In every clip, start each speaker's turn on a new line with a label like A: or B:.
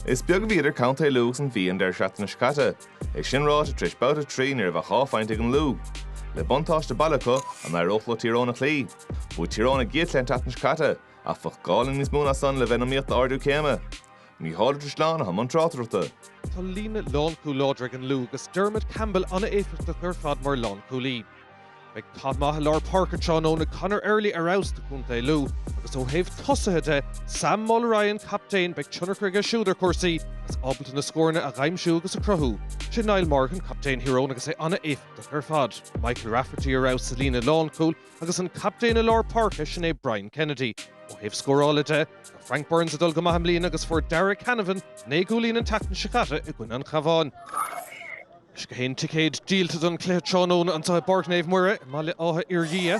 A: Is beag a bhí idir Contae Lú agus an Mhí an deireadh seachtaine seo caite. É sin ráite, tar éis babhta a trí ní raibh ach dhá phointe ag an Lú. Le buntáiste baile acu, an éireodh leo Tír Eoghain a chloí? Bhuaigh Tír Eoghain a gcéad chluiche an tseachtain seo caite, ach bheadh gá le níos mó ná san le bheith in iomaíocht d'ardú céime. Mícheál Ó Drisleáin atá i mbun tráchtaireachta. Tá líne
B: lánchúl láidir ag an Lú agus Dermot Campbell an-éifeachtach ar fad mar lánchúlaí. Beidh cath maith i lár páirce tráthnóna, Conor Early ar fheabhas do chontae Lú agus ó thaobh tosaithe de, Sam Mulroy an captaen, beidh tionchar aige siúd ar chúrsaí agus ábalta na scóranna a dhaimsiú agus a chruthú. Sé Niall Morgan captaen Thír Eoghain agus é an-éifeachtach ar fad. Michael Rafferty ar fheabhas sa líne lánchúil agus an captaen i lár páirce, sin é Brian Kennedy. Ó thaobh scórála de, tá Frank Burns ag dul go maith i mbliana agus fuair Darragh Canavan naoi gcúilín an tseachtain seo caite i gcoinne an Chabháin. Is gach aon ticéad díolta don chluiche tráthnóna anseo i bPáirc Naomh Muire i mBaile Átha Fhirdhia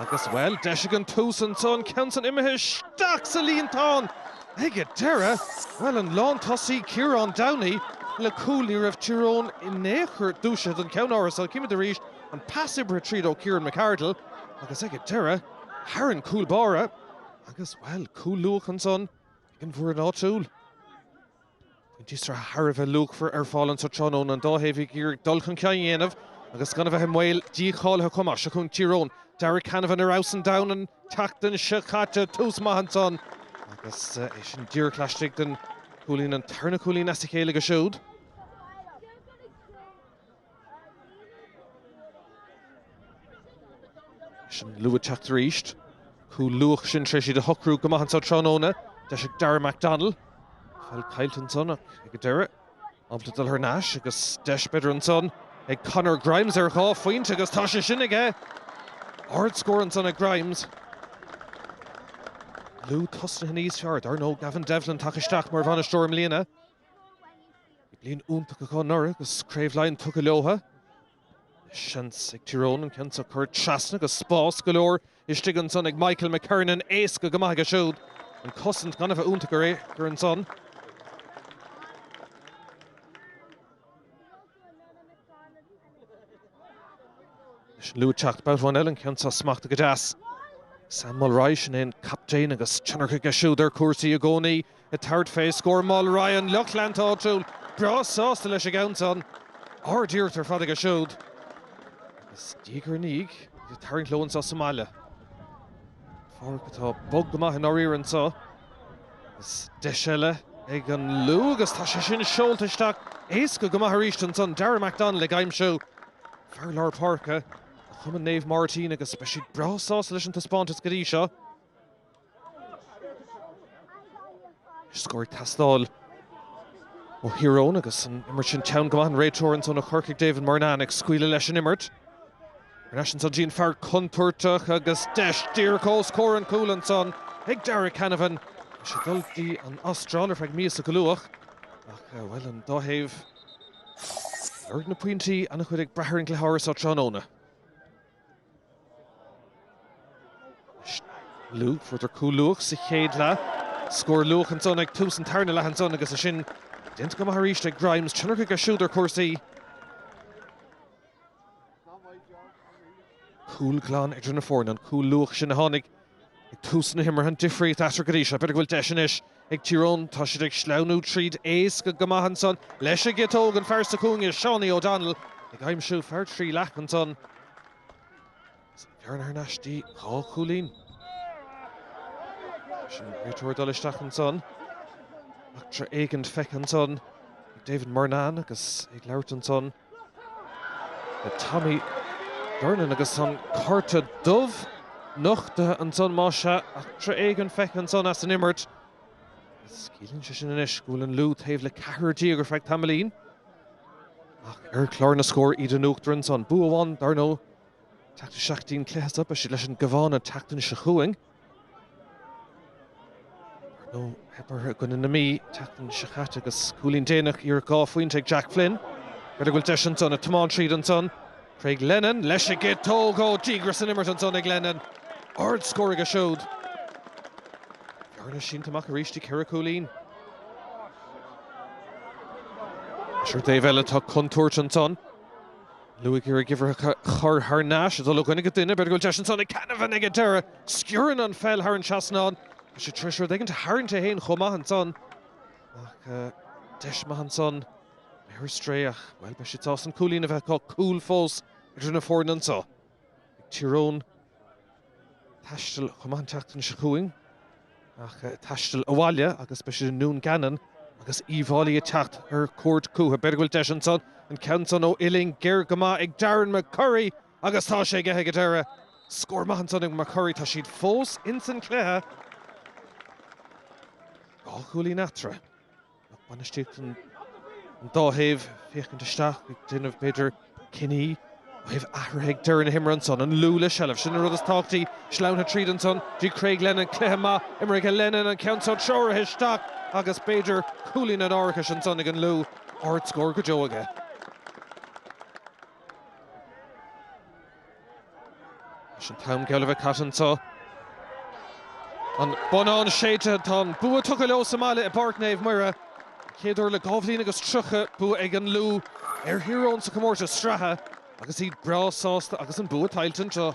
B: agus, bhuel, deis ag an tús ansan, an ceann san imithe isteach sa líontán ag an deireadh. Bhuel, an lántosaí Ciarán Downey le cúl, ní raibh Tír Eoghain in aon chor dúisithe don cheann áirithe san, címid arís an pas oibrithe tríd ó Kieran McArdle agus ag an deireadh, thar an gcúl báire agus, bhuel, cúl luath ansan ag an bhfoireann áitiúil. Pointí sraithe thar a bheith luachmhar ar fáil anseo tráthnóna, an dá thaobh ag iarraidh dul chun cinn a dhéanamh agus gan a bheith i mbaol dícháilithe chomh maith. Seo chugainn Tír Eoghain, Darragh Canavan ar fheabhas an domhain an tseachtain seo caite, tús maith ansan agus é sin díreach laistigh den chuaille, an tarna cúilín as a chéile aige siúd. Is an Lú ag teacht arís. Cúl luath sin tar éis iad a shocrú go maith anseo tráthnóna. Deis ag Dara McDonnell. An pheil caillte ansan ach ag an deireadh. Ábalta dul thar n-ais agus deis b'fhéidir ansan ag Conor Grimes ar dhá phointe agus tá sé sin aige! Ard scór ansan ag Grimes. Lú tosnaithe níos fearr dar ndóigh. Gavin Devlin tagtha isteach mar bhainisteoir i mbliana. Bhí bliain iontach acu anuraidh agus Craobh Laighean tugtha leotha. Seans ag Tír Eoghain an ceann seo a chur trasna agus spás go leor istigh ansan ag Michael McKernan. Éasca go maith aige siúd an cosaint gan a bheith iontach ar aon chor ansan. Leis an Lú ag teacht babhta amháin eile, an ceann seo smachtaithe go deas. Sam Mulroy, sin é an captaen agus tionchar aige siúd ar chúrsaí i gcónaí, ag tabhairt fé scór. Mulroy, an lucht leanta áitiúil, breá sásta leis an gceann san. Ard-iarracht ar fad aige siúd. Is diaidh ar ndiaidh iad ag tarraingt leo anseo sa mbaile ar pháirc atá bog go maith i ndáiríre anseo. Is deis eile ag an Lú agus tá sé sin seolta isteach éasca go maith arís ansan. Darragh McDonnell ag aimsiú fear lár páirce Chumann Naomh Máirtín agus beidh siad breá sásta leis an taispeántas go dtí seo. Is scór ag teastáil ó Thír Eoghain agus an imirt sin teann go maith an réiteoir ansan ó Chorcaigh David Murnane ag scaoileadh leis an imirt. Ar ais ansan 'dtí an fear contúirteach agus deis díreach os comhair an chúil ansan ag Darragh Canavan. Bhí sé ag dul 'dtí an Astráil ar feadh míosa go luath ach, bhuel, an dá thaobh, lorg na pointí an-chuid ag brath ar an gcluiche áirithe so tráthnóna. Lú, fuaireadar cúl luath sa chéad leath, scór luath ansan ag tús an tarna leath ansan agus é sin déanta go maith arís ag Grimes. Tionchar aige siúd ar chúrsaí. Cúl glan idir na foirne an cúl luath sin a tháinig ag tús na himeartha, an difríocht eatarthu go dtí seo. B'fhéidir go bhfuil deis anois ag Tír Eoghain. Tá siad ag sleamhnú tríd éasca go maith ansan. Leis an gciotóg, an fear sa chúinne, Seánie O'Donnell, ag aimsiú fear trí leath ansan. Is an bhearna thar n-ais dtí dhá chúilín. Leis an réiteoir ag dul isteach ansan. Eachtra éigint feicthe ansan ag David Murnane agus é ag labhairt ansan le Tommy Durnin agus an cárta dubh nochtaithe ansan má sea. Eachtra éigint feicthe ansan as an imirt. Is ciallaíonn sé sin anois go bhfuil an Lú taobh le ceithre dhuine déag ar feadh tamaillín. Ach ar chlár na scór iad in uachtar ansan. Bua amháin dar ndóigh Teacht i seachtain cluiche is ea beidh siad leis an gCabhán an tseachtain seo chugainn nó theip orthu i gcoinne na Mí an tseachtain seo caite agus cúilín déanach, iarracht dhá phointe ag Jack Flynn. B'fhéidir go bhfuil deis ansan ag tiomáint tríd ansan. Craig Lennon leis an gciotóg ó díograis san imirt ansan ag Lennon. Ard scór aige siúd. Bearna sínte amach arís 'dtí ceithre cúilín. Ach ar an dtaobh eile tá contúirt ansan. Lú ag cur gach uimhir a chur thar n-ais, ag dul i gcoinne gach duine, b'fhéidir go bhfuil deis ansan ag Canavan ag an deireadh stiúrann an pheil thar an trasnán. Bhí sé tar éis rud éigin a tharraingt dó féin chomh maith ansan ach deis maith ansan ar strae ach, bhuel, beidh siad sásta an cúilín a bheith acu, cúl fós idir na foirne anseo. Ag Tír Eoghain taisteal chomh maith an tseachtain seo chugainn, ach taisteal abhaile agus beidh siad i nDún Geanainn agus Uíbh Fháilí ag teacht ar cuairt chucu. B'fhéidir go bhfuil deis ansan. An ceann san ó uillinn ghéar go maith ag Darren McCurry agus tá sé aige ag an deireadh. Scór maith ansan ag McCurry. Tá siad fós insan chluiche. Dhá chúilín eatarthu. Lucht bainistíochta an dá thaobh féachaint isteach, ag déanamh, b'fhéidir, cinní ó thaobh athruithe ag deireadh na himeartha ansan. An Lú le seilbh, sin an rud is tábhachtaí. Sleamhnaithe tríd ansan, bhí Craig Lennon, cluiche maith imirthe Lennon, an ceann so treoraithe isteach agus, b'fhéidir, cúilín an árachais ansan ag an Lú. Ard-scór go deo aige. Leis an t-am geall a bheith caite anseo, an bonnán séidte, tá an bua tugtha leo sa mbaile i bPáirc Naomh Muire. An chéad uair le dhá bhliain agus tríocha, bua ag an Lú ar Thír Eoghain sa chomórtas sraithe agus iad breá sásta agus an bua tuillte anseo.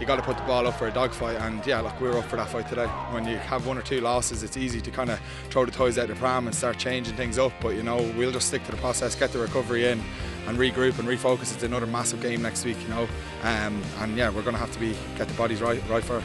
C: you got to put the ball up for a dog fight and yeah look we were up for that fight today when you have one or two losses it's easy to kind of throw the toys out the pram and start changing things up but you know we'll just stick to the process get the recovery in and regroup and refocus it's another massive game next week you know um, and yeah we're gonna have to be get the bodies right right for it